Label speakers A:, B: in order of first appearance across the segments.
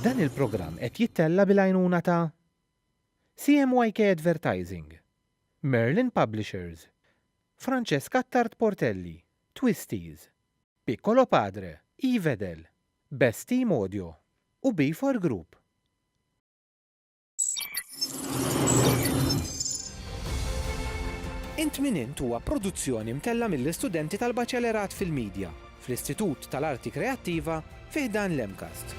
A: Dan il-programm qed jittella' bil-għajnuna ta' CMYK Advertising, Merlin Publishers, Francesc Attard Portelli, Twisties, Piccolo Padre, Evedel, Best Team Audio u Beefore Group. Int min int huwa produzzjoni mtella mill-istudenti tal-Baċelerat fil-Midja fl-Istitut tal-Arti Kreattiva fi ħdan l-MCAST.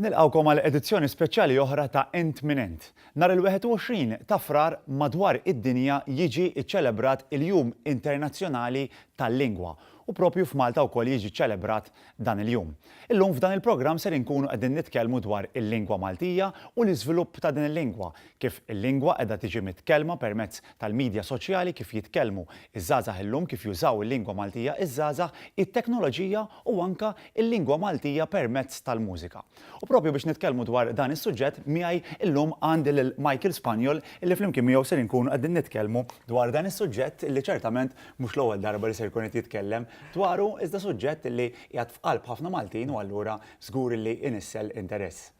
B: Nilqgħukom għal edizzjoni speċjali oħra ta' Int Min Int. Nhar il-21 ta' Frar madwar id-dinja jiġi ċċelebrat il-Jum Internazzjonali tal-Lingwa u propju f'Malta wkoll jiġi ċċelebrat dan il-jum. Illum f'dan il-programm ser inkunu qegħdin nitkellmu dwar il-lingwa Maltija u l-iżvilupp ta' din il-lingwa, Kif il-lingwa qiegħda tiġi mitkellma permezz tal-midja soċjali, kif jitkellmu ż-żgħażagħ illum, kif jużaw il-lingwa Maltija ż-żgħażagħ, it-teknoloġija u anke l-lingwa Maltija permezz tal-mużika. U propju biex nitkellmu dwar dan is-suġġett, miegħi llum għandi lil Michael Spaniol illi flimkien miegħu ser inkunu qegħdin nitkellmu dwar dan is-suġġett illi ċertament mhux l-ewwel darba li ser ikun qed jitkellem dwaru iżda suġġett illi qiegħed f'qalb ħafna Maltin u allura żgur illi inissel interess.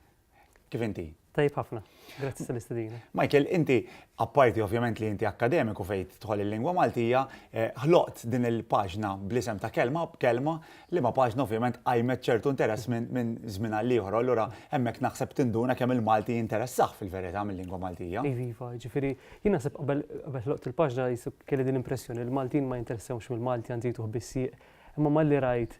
B: Kif inti? Tajb ħafna,
C: grazzi tal-istedina. Michael, inti,
B: apparti ovvjament li inti akademiku fejt tħol il-lingwa Maltija, eh, ħloqt din il-paġna bl-isem ta' kelma b'kelma li ma' paġna ovvjament għajmet ċertu interess minn żmien għal ieħor. Allura hemmhekk naħseb tinduna kemm il-Malti jinteressaħ fil-verità mill-lingwa Maltija. Iva, iva, ġifieri
C: jien naħseb qabel ħloqt il-paġna jisu kelli din l-impressjoni li l-Maltin ma jinteressewx mill-Malti għandi jtuħ bissieq Imma malli rajt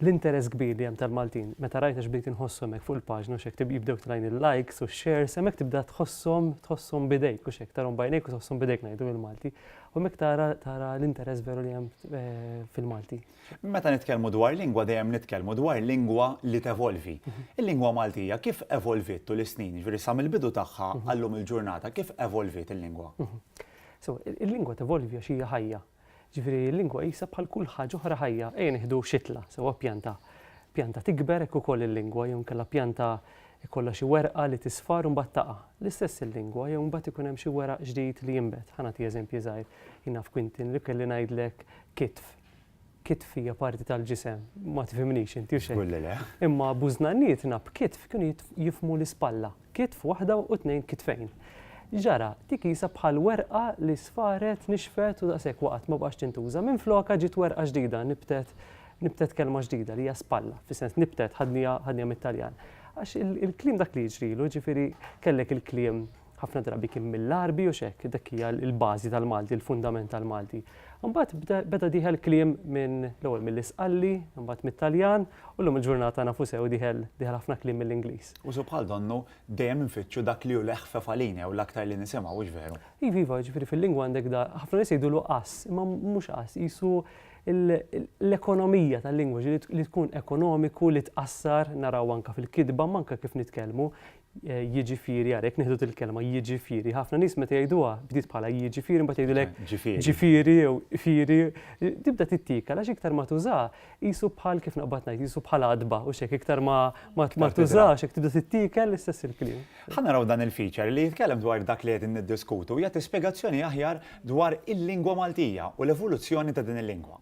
C: l-interess kbir li hemm tal-Maltin, meta rajt għax bdejt inħosshom hekk fuq il-paġna u x'hekk jibdew tlajn il-likes u x-shares, hemmhekk tibda tħosshom tħosshom b'idejk u x'hekk tarahom b'għajnejk u tħosshom b'idejk ngħidu bil-Malti. U hemmhekk tara tara l-interess veru li hemm fil-Malti. Meta nitkellmu
B: dwar lingwa dejjem nitkellmu dwar lingwa li tevolvi. Il-lingwa Maltija kif evolviet tul is-snin, jiġifieri sa mill-bidu tagħha għal-lum il-ġurnata kif evolviet il-lingwa? Sew,
C: il-lingwa tevolvi għax hija ħajja. Ġifieri l-lingwa qisha bħal kull ħaġa oħra ħajja. Ejja nieħdu xitla, sewwa pjanta. Pjanta tikber hekk ukoll il-lingwa jew inkella pjanta jkollha xi werqa li tisfar u mbagħad taqa'. L-istess il-lingwa jew imbagħad ikun hemm xi weraq ġdid li jinbet. Ħa nagħti eżempji żgħir. Jien naf Quintin li kelli ngħidlek kitf. Kitf hija parti tal-ġisem. Ma tifhimnix inti, hux hekk? Żgur li le. Imma bużnannietna b'kitf kienu jifhmu l-ispalla. Kitf waħda u tnejn kitfejn. X'ġara? Dik qisha bħal werqa li sfaret, nixfet u daqshekk waqgħet, ma baqgħetx tintuża. Minflokha ġiet werqa ġdida, nibtet, nibtet kelma ġdida li hija spalla, fis-sens nibtet, ħadniha, ħadniha mit-Taljan. Għax il-kliem dak li jiġrilu, jiġifieri kellek il-kliem ħafna drabi kien mill-Għarbi u x'hekk, dik hija l-bażi tal-Malti, il-fundament tal-Malti. Imbagħad bda, beda dieħel kliem minn l-ewwel mill-Isqalli, imbagħad mit-Taljan, u llum il-ġurnata nafu sew dieħel, dieħel ħafna kliem mill-Ingliż. Usu bħal donnu,
B: dejjem infittxu dak li hu l-eħfef għalina jew l-aktar li nisimgħu, hux veru? Iva, iva, jiġifieri fil-lingwa
C: għandek da, ħafna nies jgħidulu qass, imma mhux qass, qisu l-ekonomija tal-lingwa, ġifieri li tkun ekonomiku, li tqassar, naraw anke fil-kitba, imma anke kif nitkellmu, jiġifieri, ara jekk nieħdu dil-kelma, jiġifieri, ħafna nies meta jgħiduha, bdiet bħala jiġifieri, imbagħad jgħidulek ġifieri jew ifieri, tibda tittiekal għax iktar ma tużaha, Qisu bħal kif naqbad ngħid, qisu bħal għadba u xek iktar ma ma tużax jekk tibda tittikel l-istess il-kliem. Ħa naraw dan il-feature
B: li jitkellem dwar dak li qegħdin niddiskutu jagħti spjegazzjoni aħjar dwar il-lingwa Maltija u l-evoluzzjoni ta' din il-lingwa.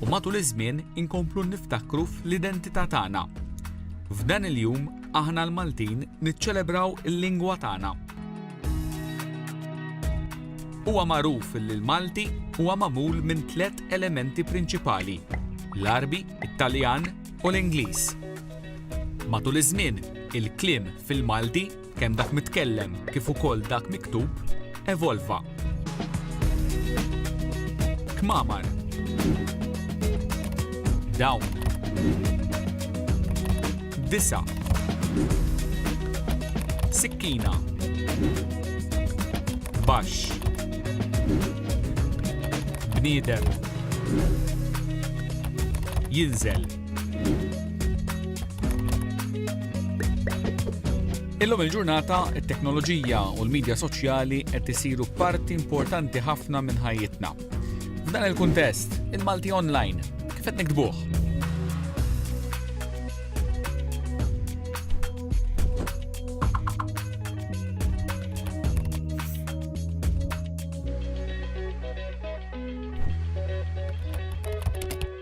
D: u matul iż-żmien inkomplu niftakru fl-identità tagħna. F'dan il-jum aħna l-Maltin niċċelebraw il-lingwa tagħna. Huwa magħruf li l-Malti huwa magħmul minn tliet elementi prinċipali, l-Għarbi, it-Taljan u l-Ingliż. Matul iż-żmien, il-kliem fil-Malti kemm dak mitkellem kif ukoll dak miktub, evolva. Kmamar. Dawn. Disa. Sikkina. Baxx. Bniedem. Jinżel. Illum il-ġurnata, it-teknoloġija u l-medja soċjali qed isiru parti importanti ħafna minn ħajjitna. F'dan il-kuntest, il-Malti Online, kif qed nikdbuh?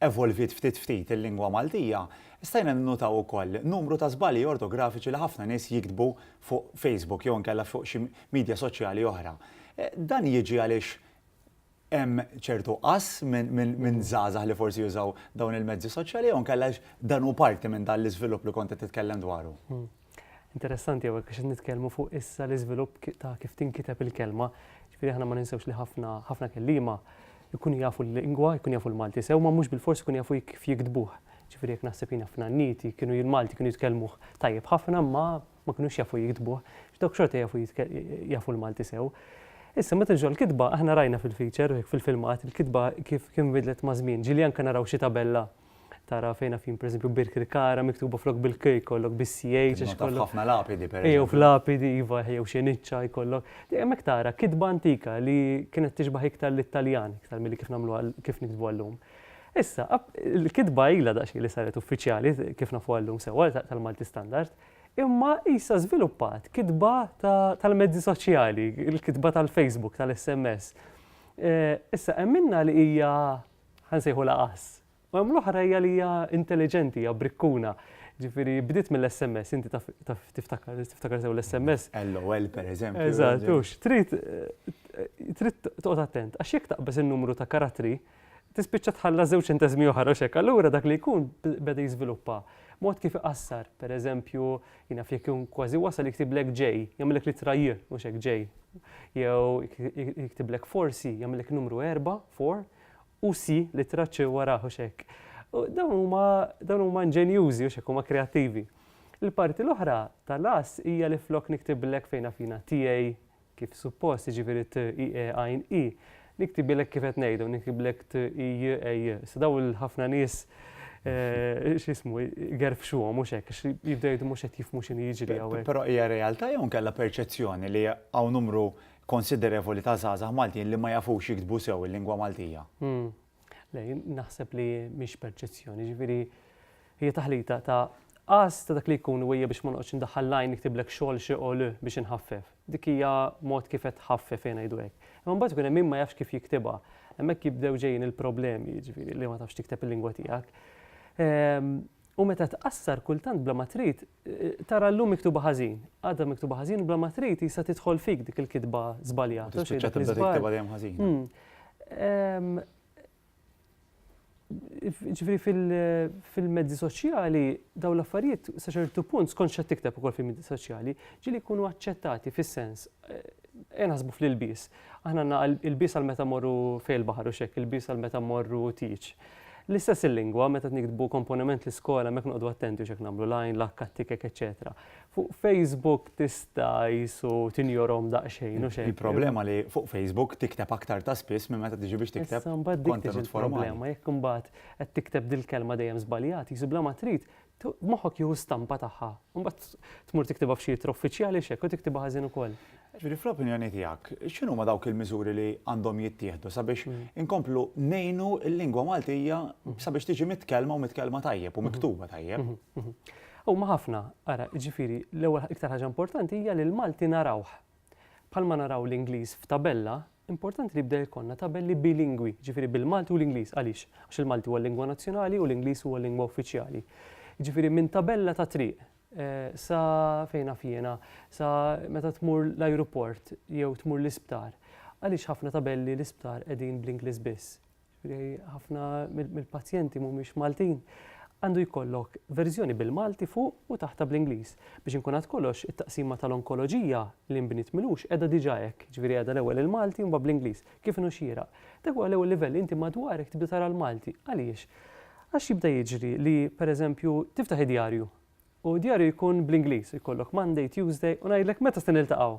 B: evolviet ftit ftit il-lingwa Maltija, stajna ninnutaw ukoll numru ta' żbalji ortografiċi li ħafna nies jiktbu fuq Facebook jew inkella fuq xi midja soċjali oħra. Dan jiġi għaliex hemm ċertu qas minn żgħażagħ li forsi jużaw dawn il-mezzi soċjali jew inkella għaliex dan hu parti minn dan l-iżvilupp li kont qed titkellem dwaru? Interessanti
C: hawnhekk għax qed nitkellmu fuq issa l-iżvilupp ta' kif tinkiteb il-kelma. Ġifieri aħna ma ninsewx li ħafna ħafna kelliema jkunu jafu l-lingwa, jkunu jafu l-Malti sew, ma mhux bilfors ikunu jafu kif jiktbuh. Ġifieri jekk naħseb jiena f'nanniti kienu l-Malti kienu jitkellmuh tajjeb ħafna imma ma kinux jafu jiktbuh, għax dawk xorta jafu jafu l-Malti sew. Issa meta niġu għall-kitba aħna rajna fil-feature, fil-filmat, il-kitba kif kif inbidlet maż-żmien. Ġieli anke naraw xi tabella tara fejn għafin pereżempju Birkirkara miktuba flok bil-k jkollok bis-ch għax ikollok. Ħafna lapidi
B: pereżempju. Ejjew f'lapidi iva
C: jew xeniċċa jkollok. Hemmhekk tara kitba antika li kienet tixbaħ iktar lit-Taljan iktar milli kif nagħmluha kif niktbuha llum. Issa, il-kitba ilha daqsxejn li saret uffiċjali kif nafuha llum sewwa tal-Malti Standard, imma qisha żviluppat kitba tal-mezzi soċjali, il-kitba tal-Facebook, tal-SMS. Issa hemm minnha li hija ħa nsejħulha għażż. U hemm l-oħra hija li hija intelliġenti, hija brikkuna. Ġifieri bdiet mill-SMS, inti taf taf tiftakar, tiftakar sew l-SMS. LOL pereżempju.
B: Eżatt, hux. Trid
C: trid toqgħod attent, għax jekk taqbeż in-numru ta' karattri, tispiċċa tħalla żewġ ċenteżmi oħra u x'hekk. Allura dak li jkun beda jiżviluppa mod kif iqassar, pereżempju, Jien naf jekk ikun kważi wasal jiktiblek ġej, jagħmilek l-ittra J, mhux hekk ġej. Jew jiktiblek forsi, jagħmilek numru erbgħa, four, u C, l-ittra C wara, mhux hekk. Dawn huma dawn huma inġenjużi, mhux hekk, huma kreattivi. Il-parti l-oħra tal-ass hija li flok niktiblek fejn naf jiena TA, kif suppost, jiġifieri t, i, e, għajn, i, niktibilek kif qed ngħidu, niktiblek t, i, j, e, j. Issa daw il-ħafna nies eh, x'ismu gerfxuhom mhux hekk, għax jibdew jgħidu mhux qed jifhmu x'inhi jiġri hawnhekk. Però hija realtà jew
B: nkella perċezzjoni li hawn numru konsiderevoli ta' żgħażagħ Maltin li ma jafux jiktbu sew il-lingwa Maltija. Hmm. Le, jien
C: naħseb li mhix perċezzjoni, ġifieri hija taħlita ta' qas ta' dak li jkun wejja biex ma noqgħodx indaħħal lajn niktiblek xogħol xi qol biex inħaffef. Dik hija mod kif qed tħaffef jien ngħidu hekk. Imma mbagħad ikun hemm min ma jafx kif jiktibha. Hemmhekk jibdew ġejjin il-problemi, ġifieri li ma tafx tikteb il-lingwa tiegħek. Ehm, u meta tqassar kultant bla ma trid, Tara llum miktuba ħażin, għada miktuba ħażin u bla ma trid tista' tidħol fik dik il-kitba żbaljata. Tispiċċa tibda tiktibha dejjem
B: ħażin. Hmm.
C: Ġifieri fil-mezzi soċjali daw l-affarijiet sa ċertu punt skont x'qed tikteb ukoll fil-mezzi soċjali ġieli jkunu aċċettati fis-sens eh, naħsbu fl-ilbies. Aħna għandna ilbies għal meta mmorru fejn il-baħar u x'hekk, ilbies għal meta mmorru tieġ. L-istess il-lingwa, meta niktbu komponiment l-iskola hemmhekk noqogħdu attenti u x'hekk nagħmlu, l-għajn, l-akka, t-tikek, eċċetera. Fuq Facebook tista' qisu tinjorhom daqsxejn u x'hekk. Il-problema li fuq Facebook
B: tikteb aktar ta' spiss minn meta tiġi biex tikteb kontenut formali. Issa mbagħad dik tiġi l-problema, jekk imbagħad
C: qed tikteb dil-kelma dejjem żbaljat, qisu bla ma trid Moħħok jieħu stampa tagħha, u mbagħad tmur tiktibha f'xi ittra uffiċjali x'hekk u tiktibha ħażin ukoll. Ġifieri fl-opinjoni
B: tiegħek, x'inhuma dawk il-miżuri li għandhom jittieħdu sabiex inkomplu ngħinu l-lingwa Maltija sabiex tiġi mitkellma u mitkellma tajjeb u miktuba tajjeb? Huma
C: ħafna, ara, ġifieri l-ewwel iktar ħaġa importanti hija li l-Malti narawh Bħalma naraw l-Ingliż f'tabella, importanti li jibda jkollna tabelli bilingwi, jiġifieri bil-Malti u l-Ingliż. Għaliex? Għax il-Malti huwa l-lingwa nazzjonali u l-Ingliż huwa l-lingwa uffiċjali. Jiġifieri minn tabella ta' triq sa fejn naf jiena, sa meta tmur l-ajruport jew tmur l-isptar, għaliex ħafna tabelli l-isptar qegħdin bl-Ingliż biss? Jiġifieri ħafna mill-pazjenti mhumiex Maltin. Għandu jkollok verżjoni bil-Malti fuq u taħtha bl-Ingliż. Biex inkun għad kollox, it-taqsima tal-onkoloġija li nbniet mil-għux qiegħda diġà hekk, jiġifieri qiegħda l-ewwel il-Malti u mbagħad bl-Ingliż, kif inhu xieraq. Dak huwa l-ewwel livell li inti madwarek tibda tara l-Malti. Għaliex? Għax jibda jiġri li, per eżempju, tiftaħ id-djarju u d-djarju jkun bl-Ingliż, ikollok Monday, Tuesday u ngħidlek meta se niltaqgħu?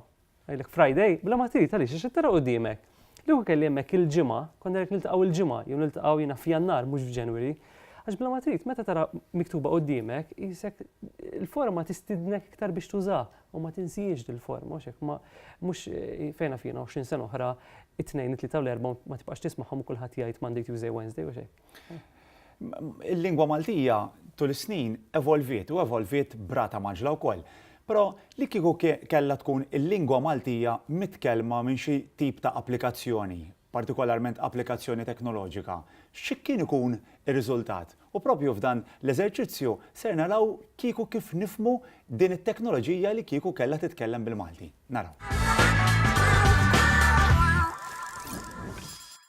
C: Ngħidlek Friday bla ma trid għaliex għax qed tara quddiemek. Li kieku kelli hemmhekk il-ġimgħa, kont ngħidlek niltaqgħu il-ġimgħa jew niltaqgħu jiena f'Jannar mhux f'January. Għax bla ma trid meta tara miktuba quddiemek qisek il-forma tistidnek iktar biex tuża u ma tinsiex dil-forma mhux hekk ma mhux eh, fejn naf jiena 20 sena oħra it-tnejn it-tlieta u l-erbgħa ma tibqax tismagħhom u kulħadd jgħid Monday, Tuesday, Wednesday u xejn. Il-lingwa
B: Maltija tul is-snin evolviet u evolviet brata maġla wkoll. Però li kieku kellha tkun il-lingwa Maltija mitkellma minn xi tip ta' applikazzjoni, partikolarment applikazzjoni teknoloġika, xi kien ikun ir-riżultat? U propju f'dan l-eżerċizzju ser naraw kieku kif nifhmu din it-teknoloġija li kieku kellha titkellem bil-Malti. Naraw.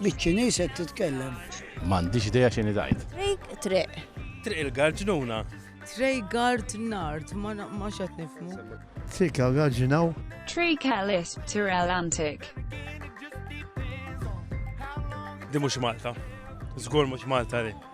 E: Biċ-Ċiniż qed titkellem? M'għandix idea
F: x'inhi tgħid. Triq, triq.
G: Triq
H: il-Garġnuna. Trej
G: gard nard, ma na- ma xed nifmu. Triq
E: il-Garġinaw. Triq il-Isb
I: Tirel Antik.
H: Di mhux Malta. Żgur mhux Malta di.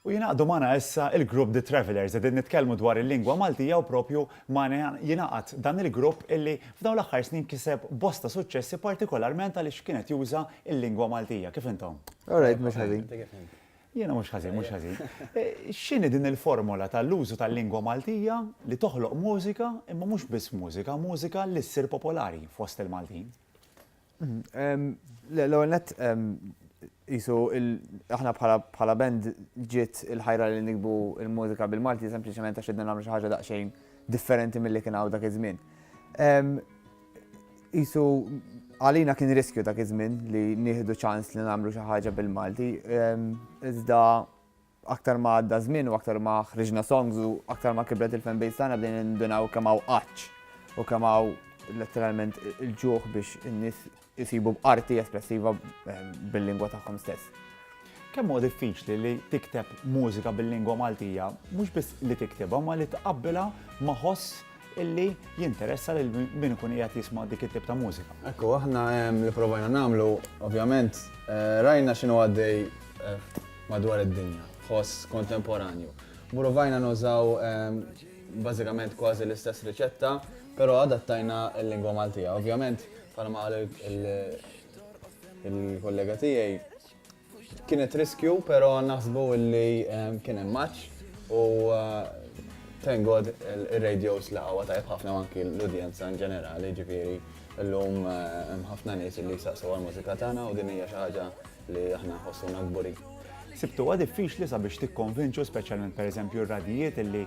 B: U jingħaqdu magħna issa il-grupp The Travellers. Qegħdin nitkellmu dwar il-lingwa Maltija u propju magħna jingħaqad dan il-grupp illi f'dawn l-aħħar snin kiseb bosta suċċessi partikolarment għaliex kien qed juża il-lingwa Maltija. Kif intom? All right, mhux ħażin.
E: Jiena mhux
B: ħażin, mhux ħażin. X'inhi din il-formola tal-użu tal-lingwa Maltija li toħloq mużika imma mhux biss mużika, mużika li ssir popolari fost il-Maltin?
J: L-ewwel nett qisu aħna bħala band ġiet il-ħajra li nikbu l-mużika bil-Malti sempliċement għax ridna nagħmlu xi ħaġa daqsxejn differenti milli kien hawn dak iż-żmien. Qisu għalina kien riskju dak iż-żmien li nieħdu ċans li nagħmlu xi ħaġa bil-Malti, iżda Aktar ma għadda ż-żmien u aktar ma ħriġna songs u aktar ma kibret il-fanbase tagħna bdejna nindunaw kemm hawn għatx u kemm hawn letteralment il-ġuħ biex in-nies isibu arti espressiva bil-lingwa tagħhom stess. Kemm huwa
B: diffiċli li tikteb mużika bil-lingwa Maltija, mhux biss li tiktibha ma li tqabbilha ma' ħoss illi jinteressa lil min ikun qiegħed jisma' dik it-tip ta' mużika. Ekku, aħna ehm,
K: li provajna nagħmlu, ovvjament, eh, rajna x'inhu għaddej eh, madwar id-dinja, ħoss kontemporanju. Provajna nużaw ehm, bażikament kważi l-istess riċetta, però adattajna l-lingwa Maltija. Ovvjament, bħalma qal il-kollega tiegħi, Kienet riskju, pero naħsbu li kien hemm match u thank God il-radios la għawa tajb ħafna anki l-udjenza in ġenerali ġifieri l-lum ħafna nies li jisaqsu għal-mużika tagħna u din hija xi ħaġa li aħna ħossuna kburi. Sibtu għad
B: diffiċli sabiex tikkonvinċu speċjalment pereżempju r-radijiet illi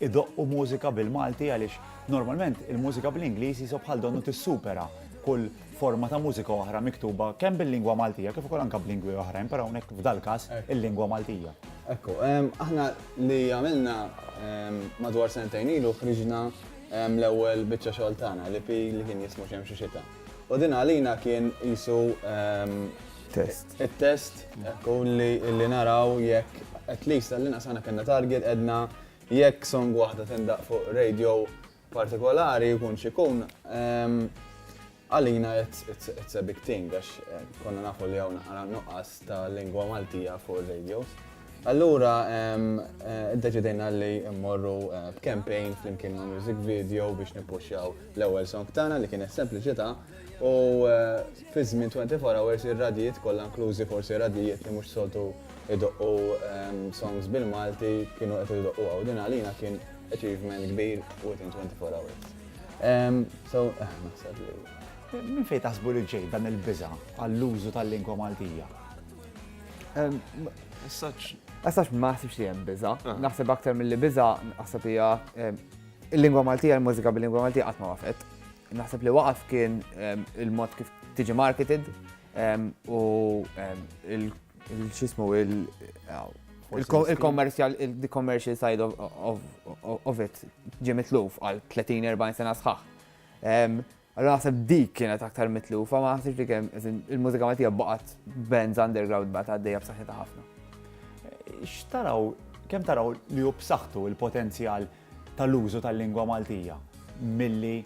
B: idoqqu mużika bil-Malti għaliex normalment il-mużika bl-Ingliż jisob bħal donnu tissupera kull forma ta' mużika oħra miktuba kemm bil-lingwa Maltija kif ukoll anke b'lingwi oħrajn, però hawnhekk f'dal-każ il-lingwa Maltija. Ekku,
K: aħna li għamilna madwar sentejn ilu ħriġna l-ewwel biċċa xogħol tagħna li pi li kien jismu xemm xi xita. U din għalina kien jisu test. Il-test ekku li naraw jekk at least għallina sana kellna target edna jekk song waħda tindaq fuq radio partikolari jkun x'ikun, għalina it's a big thing għax konna nafu li hawn ara nuqqas ta' lingwa Maltija fuq ir-radios. Allura iddeċidejna li mmorru b'campaign flimkien ma' music video biex nippuxxjaw l-ewwel song tagħna li kienet Sempliċità u fi żmien 24 hours ir-radjiet kollha inklużi forsi radjiet li mhux soltu jdoqqu songs bil-Malti kienu qed idoqquha u din għalina kien Achievement kbir within 24 hours. Um, so, eh, naħseb li. Min fejn taħsbu
B: li ġej dan il-biża għall-użu tal-lingwa Maltija?
J: Saċ. Saċ ma naħsibx li hemm biża. Ah. Naħseb aktar mill-li biża naħseb hija il-lingwa Maltija, il-mużika bil-lingwa Maltija qatt ma waqfet. Naħseb li waqaf kien il-mod kif tiġi marketed u Il-ċismu il-commercial, il-commercial side of it ġie mitluf għal 30-40 sena sħaħ. Allora naħseb dik kienet aktar mitlufa, ma naħsibx li kemm il-mużika Maltija baqgħet bands underground baqgħet għaddejja b'saħħitha ħafna. X'taraw
B: kemm taraw li hu b'saħħtu il-potenzjal tal-użu tal-lingwa Maltija milli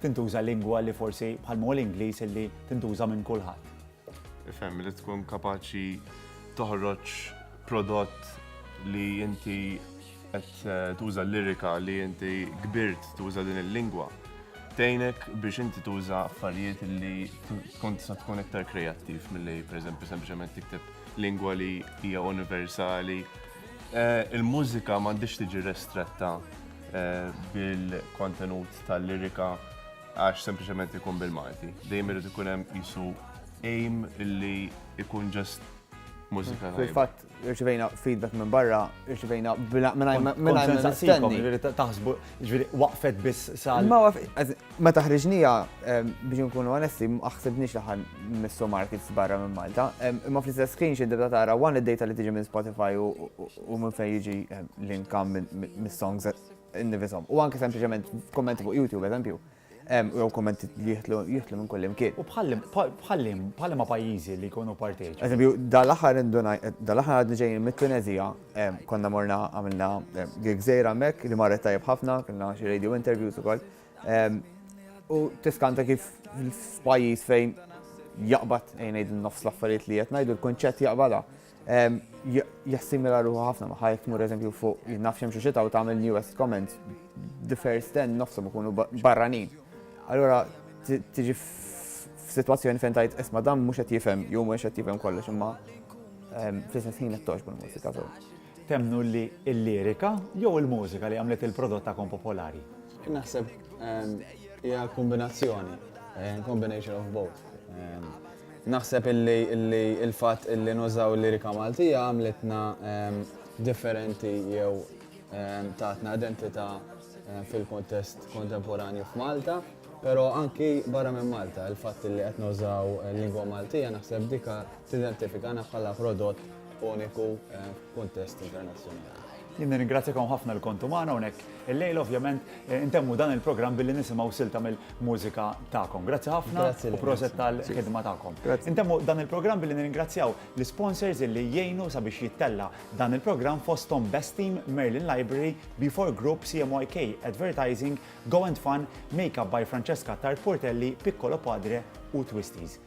B: tintuża lingwa li forsi bħal l-Ingliż illi tintuża minn kulħadd. Ifhem li
L: tkun kapaċi toħroġ prodott li inti qed eh, tuża l-lirika li inti kbirt tuża din il-lingwa. Tejnek biex inti tuża affarijiet li tkun tista' tkun iktar kreattiv milli pereżempju sempliċement tikteb lingwa li hija universali. Eh, il-mużika m'għandix tiġi restretta eh, bil-kontenut tal-lirika għax sempliċement ikun bil-Malti. Dejjem irid ikun hemm qisu aim illi ikun ġast mużika. Fil-fatt, irċivejna
J: feedback minn barra, irċivejna
B: minn taħsbu, ġviri, waqfet biss sal. Ma waqfet, ma
J: taħriġnija biex nkunu onesti, aħsibniex li ħan missu markets barra minn Malta. Ma fl-istess screen xi dibda tara one id-data li tiġi minn Spotify u minn fejn jiġi l-income mis-songs innifishom. U anke sempliċement kommenti fuq YouTube, eżempju, jew kommenti li jihtlu minn kull imkien. U bħallim,
B: bħallim ma pajjiżi li jkunu parteċi. Eżempju, dal-aħħar
J: dal-aħħar għadni ġejjin mit-Tunezija, konna morna għamilna gżejra mek li marret tajjeb ħafna, kellna xi radio interviews ukoll. U tiskanta kif f'pajjiż fejn jaqbad ngħid nofs l-affarijiet li qed ngħidu l-kunċett jaqbadha. jassimila ruħu ħafna maħħa jek mur eżempju fuq jinnaf xemxu xita u tagħmel newest comments the first ten nofsom ikunu barranin. Allura tiġi f'sitwazzjoni fejn tajt isma dan mhux qed jifhem jew mhux qed jifhem kollox imma fl-istess ħin qed toġbu l-mużika sew. Temnu
B: li l-lirika jew il-mużika li għamlet il-prodott ta' popolari? Naħseb
K: hija kombinazzjoni, combination of both. Naħseb illi illi il-fatt illi nużaw lirika Maltija għamlitna differenti jew tatna identità fil-kuntest kontemporanju f'Malta, però anki barra minn Malta, il-fatt illi qed nużaw lingwa Maltija naħseb dika tidentifikana bħala prodott uniku f'kuntest internazzjonali. Jien nirringrazzjakom
B: ħafna li kontu magħna hawnhekk illejla ovvjament eh, intemmu dan il-programm billi nisimgħu silta mill-mużika tagħkom. Grazzi ħafna Grazzi u lilek. proset tal-ħidma tagħkom. Grazzi. Intemmu dan il-programm billi nirringrazzjaw l-sponsors illi jgħinu sabiex jittella dan il-programm fosthom Best Team, Merlin Library, B4 Group, CMYK Advertising, Go and Fun, Makeup by Francesca Tart Portelli, Piccolo Padre u Twisties.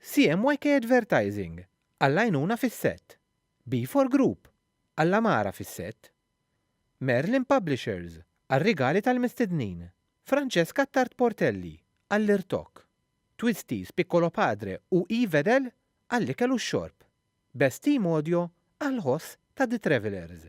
A: CMYK Advertising għall-għajnuna fis-sett, B4 Group għall-għamara fis-sett, Merlin Publishers għar-rigali tal-mistednin, Francesca Attard Portelli għall-irtokk, Twisties Piccolo Padre u E Vedel għall-ikel u x-xorb, Best Team Audio għall-ħoss ta' The Travellers.